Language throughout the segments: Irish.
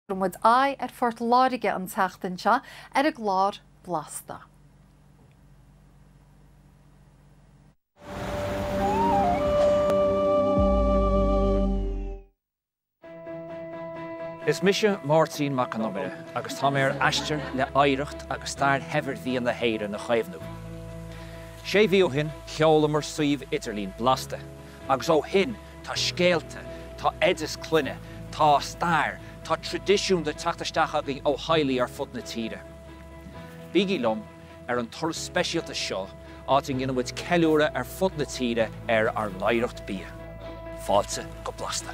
Tugann muid aghaidh ar Phort Láirge an tseachtain seo ar an gclár Blasta. Is mise Máirtín Mac an Iomaire agus tá mé ar aistear le hoidhreacht agus stair shaibhir bhia na hÉireann a chaomhnú. Sé mhí ó shin sheolamar suíomh idirlín Blasta agus ó shin Tá scéalta, tá oideas clainne, tá stair, tá tradisiún ag teacht isteach againn ó theaghlaigh ar fud na tíre. Bígí liom ar an turas speisialta seo áit a ndéanfaidh muid ceiliúradh ar fud na tíre ar ár n-oidhreacht bia. Fáilte go Blasta!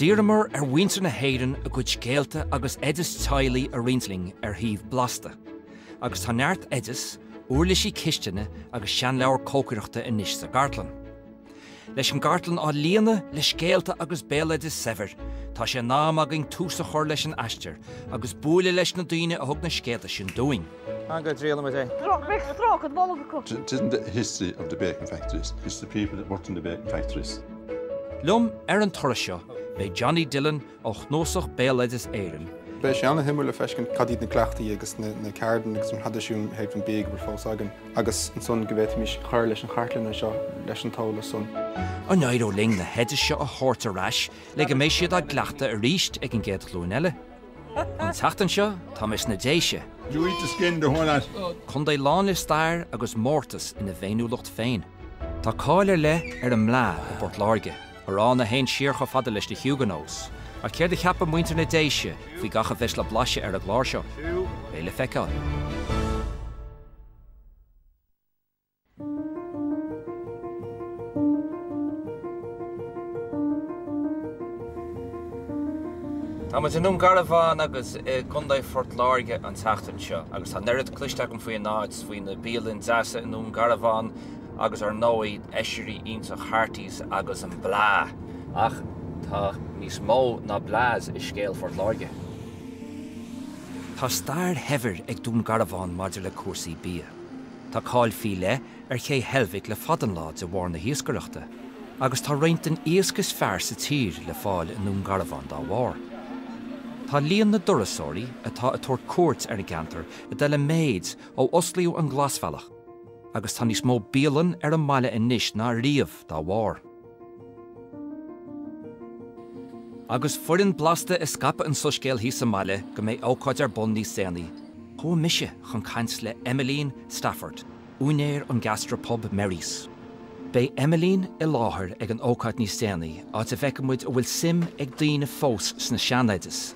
D'iarramar ar mhuintir na hÉireann a gcuid scéalta agus oidis teaghlaigh a roinnt linn ar shuíomh Blasta, agus tá neart oideas, úirlisí cistine agus seanleabhair cócaireachta anois sa gcartlann. Leis an gcartlann á líonadh le scéalta agus béaloideas saibhir, tá sé in am againn tús a chur leis an aistear agus bualadh leis na daoine a thug na scéalta sin dúinn. An gcuid rialaigh muid é? Beidh stráice bolg acu. It isn't the history of the bacon factories, it's the people that worked in the bacon factories. Liom ar an turas seo beidh Jonny Dillon ó Chnuasach Bhéaloideas Éireann. Beidh sé an-shuimiúil le feiscint cad iad na cleachtaí agus na ceardanna agus na traidisiúin i dtaobh an bhia go bhfuil fós againn agus ansan go bhféadfaimis cur leis an chartlann anseo leis an eolas san. An éireoidh linn na hoidis seo a thabhairt ar ais le go mbeidh siad á gcleachtadh arís ag an gcéad ghlúin eile? An tseachtain seo tá mé sna Déise. You eat the skin the whole lot. Contae lán le stair agus mórtas ina bhféiniúlacht féin. Tá cáil ar leith ar an mblaa i bPort Láirge, arán a théann siar chomh fada leis na Huguenots, ach céard a cheapann muintir na Déise faoi gach a bheas le blaiseadh ar an gclár seo? Beidh le feiceáil. Tá muid i nDún Garbhán i gContae Phort Láirge an tseachtain seo agus tá an oiread cloiste agam faoi an áit, faoi na bialanna deasa i nDún Garbhán agus ar ndóigh oisrí iontacha Harty's agus an blaa! Ach tá níos mó ná blaa i scéal Phort Láirge. Tá stair shaibhir ag Dún Garbhán maidir le cúrsaí bia. Tá cáil faoi leith ar ché Heilbhic le fada an lá de bharr na hiascaireachta, agus tá roinnt den iasc is fearr sa tír le fáil i nDún Garbhán dá bharr. Tá líon na dturasóirí atá ag tabhairt cuairt ar an gceantar ag dul i méid ó osclaíodh an Glasbhealach, agus tá níos mó bialann ar an mbaile anois ná riamh dá bharr. Agus foireann Blasta ag scaipeadh an tsoiscéil thíos sa mbaile go mbeidh ócáid ar bun níos déanaí, chuaigh mise chun caint le Emmeline Stafford, úinéir an gastropub Merry's. Beidh Éimhín i láthair ag an ócáid níos déanaí, áit a bhfeicfidh muid an bhfuil suim ag daoine fós sna sean-oidis.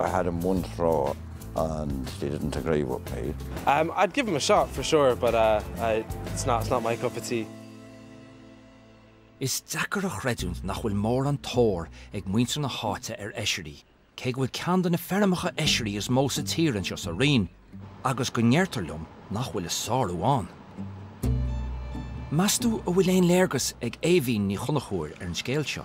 I had one or two and they didn't agree with me. Um I'd give them a shot for sure but uh I it's not it's not my cup of tea. Is deacair a chreidiúint nach bhfuil mórán tóir ag muintir na háite ar eisirí, cé go bhfuil ceann de na feirmeacha eisirí is mó sa tír anseo sa Rinn, agus go ndeirtear liom nach bhfuil a sárú ann. Meastú an bhfuil aon léargas ag Éimhín Ní Chonchúir ar an scéal seo?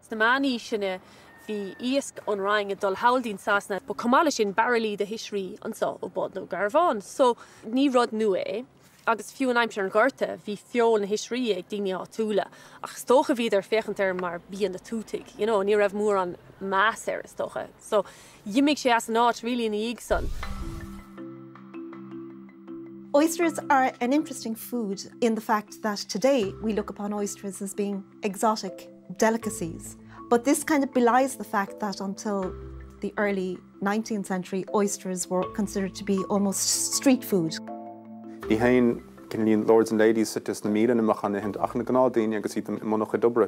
Sna meánaoiseanna bhí iasc ón Rinn ag dul sall go dtí Sasana. Chomh maith leis sin, bairillí de oisrí anseo ó Dhún Garbhán. So, ní rud nua é. Agus fiú in aimsir an Ghorta bhí feoil na hoisrí ag daoine áitiúla. Ach is dócha bhíodar ag féachaint air mar bia na dtuatach, you know, ní raibh mórán meas air is dócha. So, dh'imigh sé as an áit really ina dhiaidh san. Oysters are an interesting food in the fact that today we look upon oysters as being. exotic delicacies but this kind of belies the fact that until the early nineteenth century oysters were considered to be almost street food. Ní hamháin gur lords and ladies istigh sna muinéil a bheadh á n-ithe ach na gnáthdaoine agus iad i mbun a gcuid oibre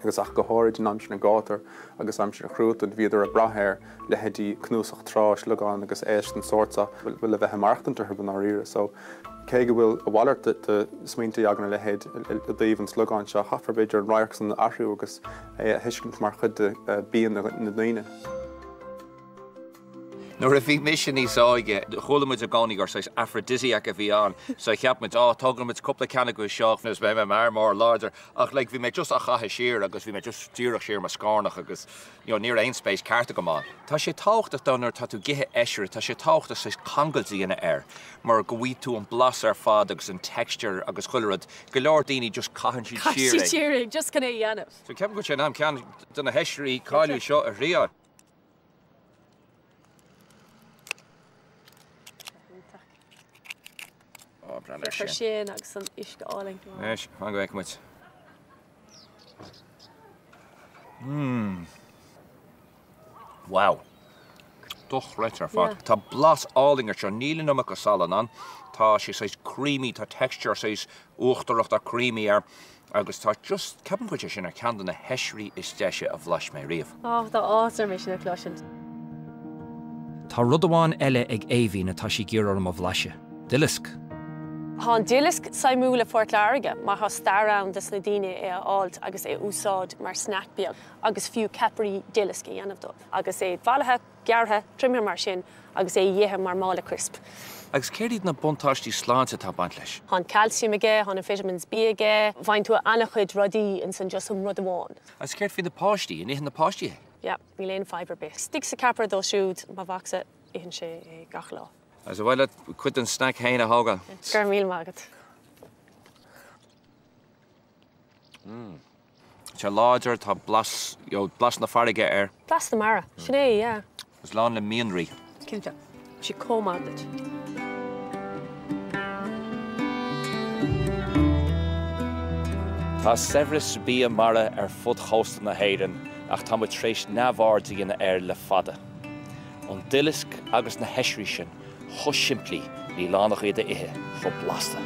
agus ach go háirid in aimsir an ghátair agus aimsir an chruatain bhíodar ag brath ar leithéidí cnuasach trá, sliogáin agus éisc den sórt seo chun a bheith ag maireachtaint orthu i ndáiríre. So, cé go bhfuil a mhalairt de smaointe ag an-chuid daoine i dtaobh an sliogáin seo, caithfear b'fhéidir an radharc san a athrú agus é a thuiscint mar chuid de bhia na ndaoine. Nuair a bhí mise níos óige, chuala muid i gcónaí gur saghas aphrodisiac a bhí ann. So, cheap muid, Á, tógfaidh muid cúpla ceann acu isteach agus beidh mé i m'fhear mór láidir. Ach like, bhí mé just á chaitheamh siar agus bhí mé just díreach siar i mo scornach agus. You know, ní raibh aon spéis ceart agam ann. Tá sé tábhachtach though nuair atá tú ag ithe eisire, tá sé tábhachtach saghas cangailt a dhéanamh air mar go bhfaighidh tú an blas ar fad agus an texture agus chuile rud. Go leor daoine just caitheann siad siar é just chun é a dhéanamh. So ceapaim go bhfuil sé in am ceann de na heisirí cáiliúla seo a thriáil. Oh, breathnaigh air sin. Sin agus an uisce álainn. Leis, fan go bhfeicfidh muid. Mmm. Wow. Dochreidte ar fad. Tá blas álainn air seo. Níl an iomarca de salann ann. Tá sé saghas creamy, tá texture saghas uachtarach, tá creamy air. Agus tá just, ceapaim go bhfuil sé sin ar cheann de na heisirí is deise a bhlais mé riamh. Ach tá áthas orm é sin a chloisteáil. Tá rud amháin eile ag Aoibhín atá sí ag iarraidh orm a bhlaiseadh. Duileasc. Tá an duileasc suimiúil i Phort Láirge mar tá stair ann dos na daoine é a fháilt agus é a úsáid mar snack beag agus fiú ceapairí duilisc a dhéanamh dóibh agus é bailithe gearrtha, triomaithe mar sin agus é dh'ithe mar mála crisp. Agus céard iad na buntáistí sláinte atá ag baint leis? Tá an calcium aige, tá na vitamins B aige, bíonn tú ana-chuid rudaí ins an just an rud amháin. Agus céard faoi na páistí, an itheann na páistí é? Yep, níl aon fadhb ar bith. Istigh sa ceapaire dóibh siúd, mo mhacsa, itheann sé é gach lá. Agus ar mhaith leat cuid den snack féin a thógáil? Go raibh míle maith agat. Tá sé láidir, tá blas, you know, blas na farraige air. Blas na mara. Sin é, yeah. Agus lán le mianraí. Cinnte. Bíonn sé chomh maith duit. Tá saibhreas bia mara ar fud chósta na hÉireann ach tá muid tar éis neamhaird a dhéanamh air le fada. An duileasc agus na hoisrí sin. chomh simplí, níl ann ach iad a ithe, chomh blasta.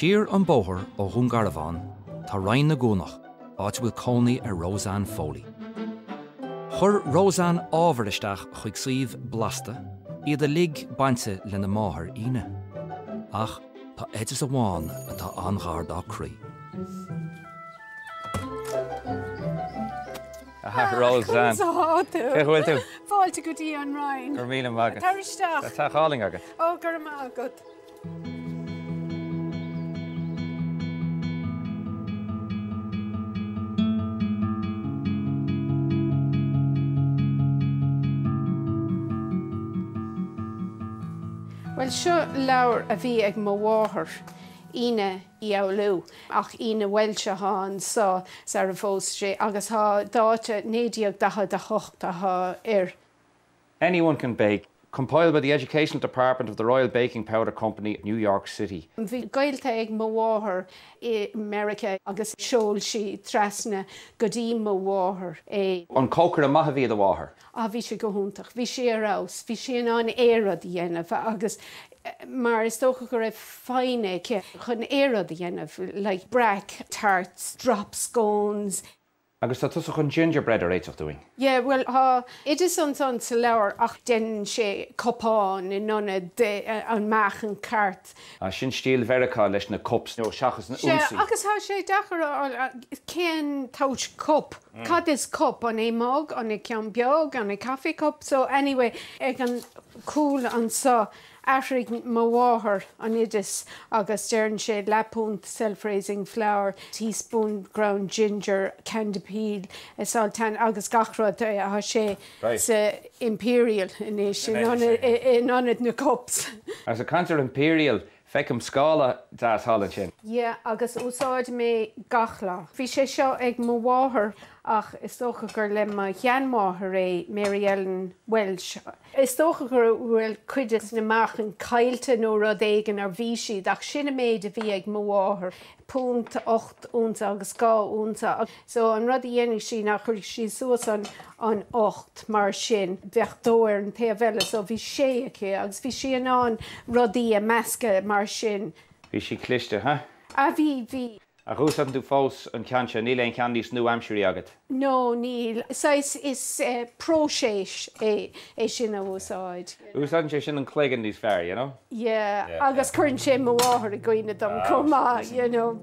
Siar an bóthar ó Dhún Garbhán tá Rinn Ó gCuanach. áit a bhfuil cónaí ar Roseanne Foley. Chuir Roseanne ábhar isteach chuig suíomh Blasta, iad uilig bainte lena máthair Ina. Ach tá oideas amháin atá an-ghar dá croí. Ah, Roseanne. Conas atá tú? Cén chaoi a bhfuil tú? Fáilte go dtí an Rinn. Go raibh míle maith agat. Tar isteach. Tá teach álainn agat. Ó, go raibh maith agat. Bhuel, seo leabhar a bhí ag mo mháthair, Ina Uí Fhoghlú, ach Ina amhail seo atá anso sara phós sí agus an dáta 1948 atá air. Anyone can bake. Compiled by the Educational Department of the Royal Baking Powder Company, New York City. Bhí gaolta ag mo mháthair i Meiriceá agus sheol sí trasna go dtí mo mháthair é. An cócaire maith a bhí i do mháthair? Ah, bhí sí go hiontach. Bhí sí ar fheabhas. Bhí sí in ann aon rud a dhéanamh agus mar is dócha go raibh foighne aici chun aon rud a dhéanamh, like brack, tarts, drop scones, Agus tá tusa chun gingerbread a réiteach dúinn. Yeah, bhuel, tá oideas ansan sa leabhar ach deineann sé cupán in ionad an meáchan ceart. Ah, sin stíl Mheiriceá leis na cups nó seachas na hunsaí. Sea, agus tá sé deacair a fháil cén sórt cup. Cad is cup? An é mug? An é ceann beag? An é coffee cup? So anyway, ag an cúl anso. Athraigh mo mháthair an oideas agus deireann sé leathpúnt self-raising flour, teaspoon ground ginger, candy peel, salt and agus gach rud. Tá sé sa Imperial anois in ionad na cups. Is ag caint ar Imperial, feicim scála deas thall ansin. Yeah agus úsáidim é gach lá. Bhí sé seo ag mo mháthair ach is dócha gur le mo sheanmháthair é, Mary Ellen Welsh. Is dócha go bhfuil cuid de na meáchain caillte nó rud éigin ar bhí siad ach sin an méid a bhí ag mo mháthair, punt, ocht unsa agus dhá unsa so an rud a dhéanfadh sí ná chuirfeadh sí suas an an ocht mar sin bheadh dó ar an taobh eile so bhí sé aici agus bhí sí in ann rudaí a mheascadh mar sin. Bhí sí cliste, huh? Ah bhí, bhí. Ach úsáideann tú fós an ceann seo, níl aon cheann níos nua-aimseartha agat? No, níl. Saghas, is próiseas é, é sin a úsáid. Úsáideann sé sin an cloigeann níos fearr, you know? Yeah, agus cuireann sé mo mháthair i gcuimhne dom chomh maith, you know?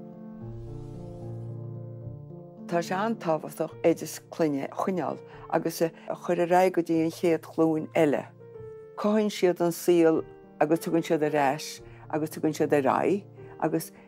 Tá sé an-tábhachtach oideas clainne a choinneáil agus a chur ar aghaidh go dtí an chéad ghlúin eile. Cothaíonn siad an saol agus tugann siad ar ais agus tugann siad ar aghaidh agus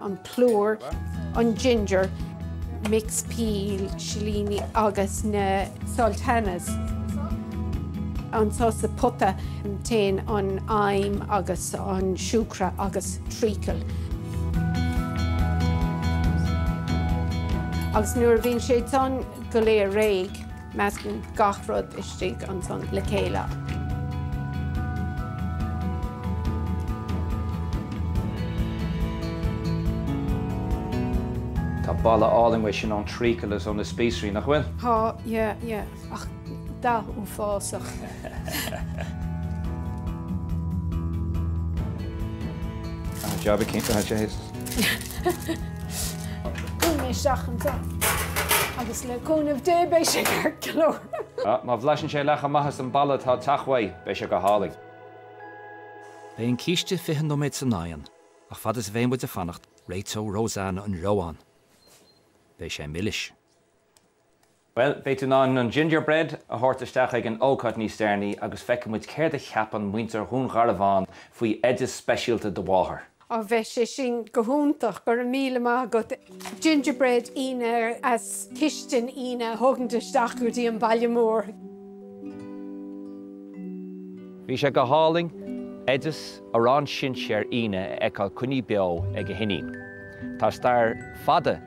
an plúr, an ginger, mix peel, silíní agus na sultanas, ansan sa phota, téann an im agus an siúcra agus treacle agus nuair a bhíonn sé san go léir réidh. Meascann gach rud istigh ansan le chéile. Tá boladh álainn uaidh sin ón treacle is ó na spíosraí, nach bhfuil? Tá, yeah, yeah. Ach dath uafásach. An jab a chinntiú, I'd say. Chuaigh mé isteach anseo agus le cúnamh Dé beidh sé ceart go leor. Má bhlaiseann sé leath chomh maith is an boladh atá ag teacht uaidh, beidh sé go hálainn. Beidh an císte 20 nóiméad san oigheann ach fad is a bheidh muid ag fanacht réiteoidh Rosanna an reoán. Beidh sé milis. Bhuel, beidh tú in ann an gingerbread a thabhairt isteach ag an ócáid níos déanaí agus feicfidh muid céard a cheapann muintir Dhún Garbhán faoi oideas speisialta do mháthar. Á, bheadh sé sin go hiontach, go raibh míle maith agat. Gingerbread Éanna as cistin Éanna a thógaint isteach go dtí an baile mór. Bhí sé go hálainn oideas Arán Sinséir Éanna a fheiceáil coinnithe beo ag a hiníon. Tá stair fada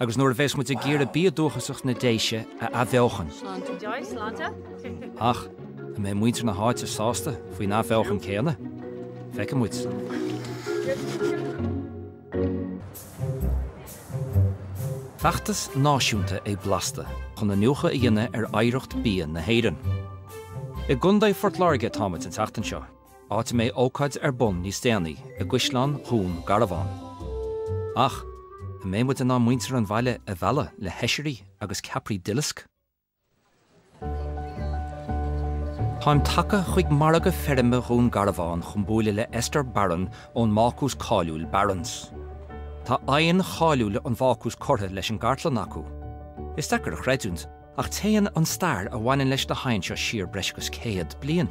agus nuair a bheas muid ag iarraidh bia dúchasach na Déise a athbheochan. Ach, an mbeidh muintir na háite sásta faoin athbheochan céanna? Feicfidh muid. Feachtas náisiúnta é Blasta chun iniúchadh a dhéanamh ar oidhreacht bia na hÉireann. I gContae Phort Láirge atáimid an tseachtain seo. áit a mbeidh ócáid ar bun níos déanaí i gCaisleán Dhún Garbhán. Ach, an mbeidh muid in ann muintir an bhaile a mhealladh le hoisrí agus ceapairí duilisc? Táim tagtha chuig Margadh Feirme Dhún Garbhán chun buaileadh le Esther Barron ón mbácús cáiliúil Barron's. Tá oigheann cháiliúil an bhácúis curtha leis an gcartlann acu. Is deacair a chreidiúint, ach téann an stair a bhaineann leis na hoighinn seo siar breis agus céad bliain.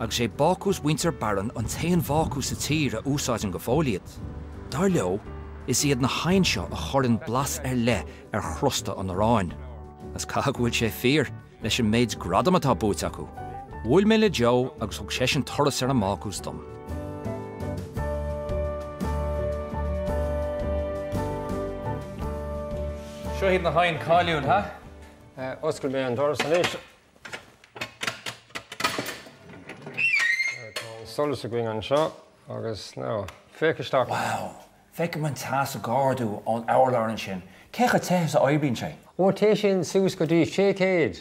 Agus is é Bácús mhuintir Barron an t-aon bhácús sa tír a úsáideann go fóill iad, dar leo, is iad na hoighinn seo a chuireann blas ar leith ar chrosta an aráin. Is caithfidh go bhfuil sé fíor, leis an méid gradam atá buaite acu. Bhuail mé le Joe agus thug seisean turas ar an mBácús dom. Seo iad na hoighinn cáiliúil, ha? Oscail mé an doras anois. Tá an solas againn anseo agus now, féach isteach! Wow! Feicim an teas ag ardú ón urlár ansin. Cé chomh te is a oibríonn sé? Ó, téann sé sin suas go dtí sé chéad!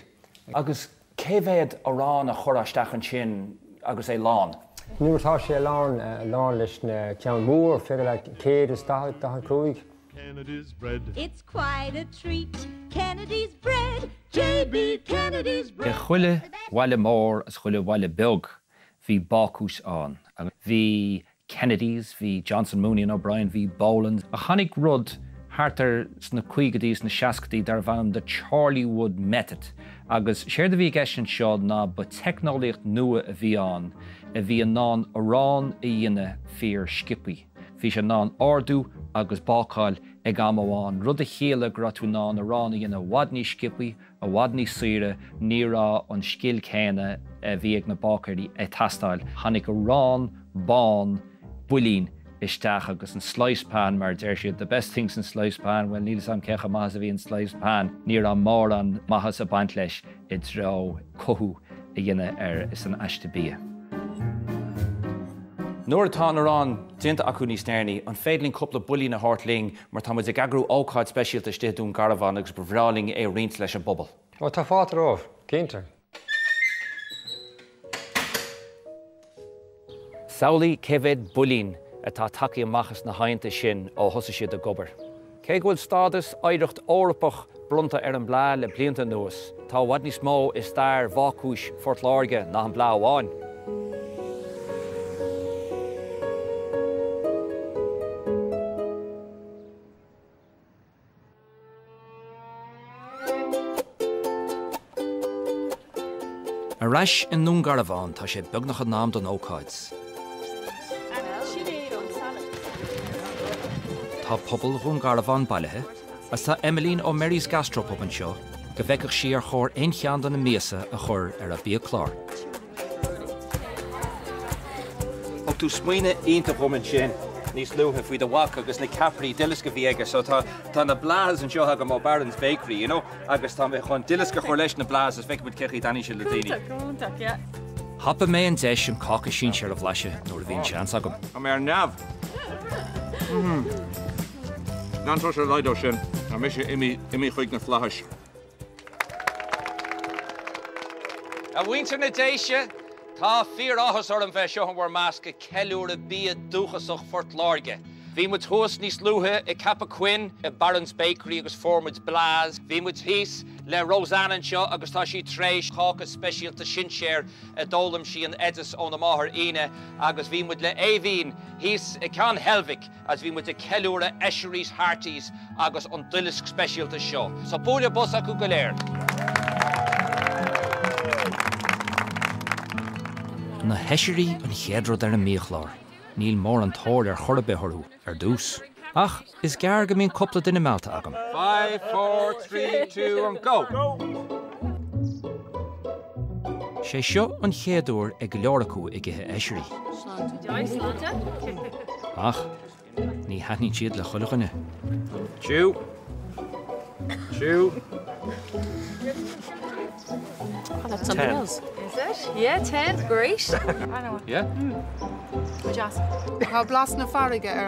Agus cé mhéad arán a chuirfeá isteach ansin agus é lán? Nuair atá sé lán, lán leis na ceann mór, féidir leat, céad is daichead, daichead cúig. Kennedy's bread. It's quite a treat. Kennedy's bread, JB Kennedy's bread. I chuile bhaile mór is chuile bhaile beag bhí bácús ann agus bhí Kennedys, bhí Johnston, Mooney and O'Brien, bhí Bolands. Ach tháinig rud thart ar sna caogaidí is na seascaidí darbh ainm The Chorleywood Method agus séard a bhí i gceist anseo ná ba teicneolaíocht nua a bhí ann a bhí in ann arán a dhéanamh fíor-sciobtha. Bhí sé in ann ardú agus bácáil ag am amháin, rud a chiallaigh go raibh tú in ann arán a dhéanamh i bhfad níos sciobthaí, i bhfad níos saoire, ní raibh an scil céanna a bhí ag na báicéirí ag teastáil, tháinig arán bán builín isteach agus an sliced pan, mar a deir siad, the best thing since sliced pan, bhuel níl 'fhios a'm cé chomh maith is a bhí an sliced pan, ní raibh mórán maitheasa ag baint leis. i dtreo cothú a dhéanamh ar san aiste bia. Nuair atá an arán déanta acu níos deireanaí, an féidir linn cúpla builín a thabhairt linn mar tá muid ag eagrú ócáid speisialta istigh i Dún Garbhán agus ba bhreá linn é a roinnt leis an bpobal? Ó, tá fáilte romhaibh, cinnte. Samhlaigh cé mhéad builín atá tagtha amach as na hoigheanta sin ó thosaigh siad ag obair. Cé go bhfuil stádas Oidhreacht Eorpach bronnta ar an mblaa le blianta anuas, tá i bhfad níos mó i stair bhácúis Phort Láirge ná an blaa amháin. Ar ais i nDún Garbhán tá sé beagnach in am don ócáid. Tá pobal Dhún Garbhán bailithe agus tá Emilene ó Merry's Gastropub anseo go bhfeicfeadh sí ar chóir aon cheann de na miasa a chur ar a biachlár. Thug tú smaoineamh iontach dhom ansin níos luaithe faoi do mhac agus na ceapairí duileasc a bhí aige so tá tá na blaas anseo agam ó Barron's Bakery, you know, agus tá mé chun duileasc a chur leis na blaas feicfidh muid cén chaoi a dtaitneoidh sé le daoine. Iontach, iontach, yeah. Thapaigh mé an deis an cáca sinsear a bhlaiseadh nuair a bhí an seans agam. Tá mé ar neamh. Gan tá sé leid ó sin, tá mé imithe chuig na flaithis. A mhuintir na Déise, tá fíor-áthas orm bheith anseo in bhur measc ag ceiliúradh bia dúchasach Phort Láirge. Bhí muid thuas níos luaithe i gCeapach Choinn i Barron's Bakery agus fuair muid blaas. Bhí muid thíos le Roseann anseo agus tá sí tréis cáca speisialta sinséir a d'fhoghlaim sí an t-oideas óna máthair Ina agus bhí muid le Éimhín thíos i Ceann Heilbhic, is bhí muid ag ceiliúradh oisrí Harty's agus an duileasc speisialta seo. So bualadh bos acu go léir. Na hoisrí an chéad rud ar an mbiachlár. Níl mórán tóir ar chor ar bith orthu ar dtús. Ach is gearr go mbíonn cúpla duine meallta agam. Five, four, three, two and go! Sé seo an chéad uair ag go leor acu ag ithe Oisrí. Ach ní thaitníonn siad le chuile dhuine. Tchú! Tá blas na farraige ar.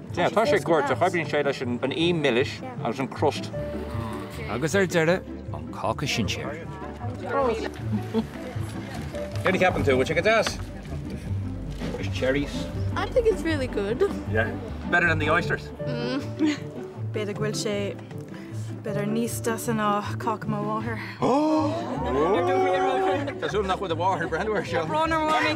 Yeah, tá sé goirt ach, oibríonn sé leis an ím milis agus an crust. Agus ar deireadh, an cáca sinséir. Céard ceapann tú, bhfuil sé go deas? There's cherries. I think it's really good. Yeah. Better than the oysters. B'fhéidir go bhfuil sé B'fhéidir níos deise ná cáca mo mháthar. Tá súil nach bhfuil do mháthair ag breathnú air seo. Brón orm a Mhamaí!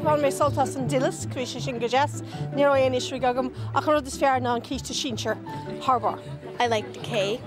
Bhain mé sult as an dilisc, bhí sé sin go deas. Ní raibh aon oisrí agam ach an rud is fearr ná an císte sinséir, thar barr. I liked the cake.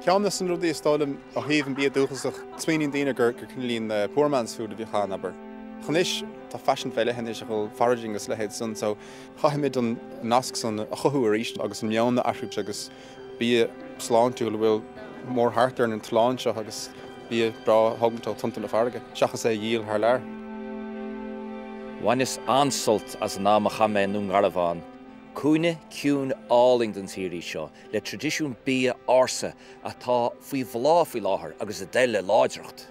Ceann de na rudaí is dóigh liom ó thaobh an bia dúchasach, smaoiníonn daoine gur cineál poor man's food a bhíodh ann, abair. Ach anois tá faisean fé leith anois ó thaobh foraging is a leithéid san so chaithfimid an nasc san a chothú arís agus an meon a athrú agus bia sláintiúil a bhfuil mórthart ar an oileán seo agus bia breá a thógaint ó tonnta na farraige seachas é a dhíol thar lear. Bhaineas an-sult as an am a chaith mé i nDún Garbhán. Cúinne ciúin álainn den tír í seo, le traidisiún bia ársa atá faoi bhláth faoi láthair agus ag dul i láidreacht.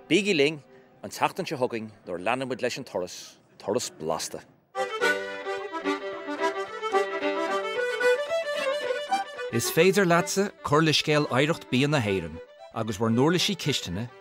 Bígí linn an tseachtain seo chugainn nuair a leanfaidh muid leis an turas, turas blasta! Is féidir leatsa cur le scéal oidhreacht bia na hÉireann agus bhur n-uirlisí cistine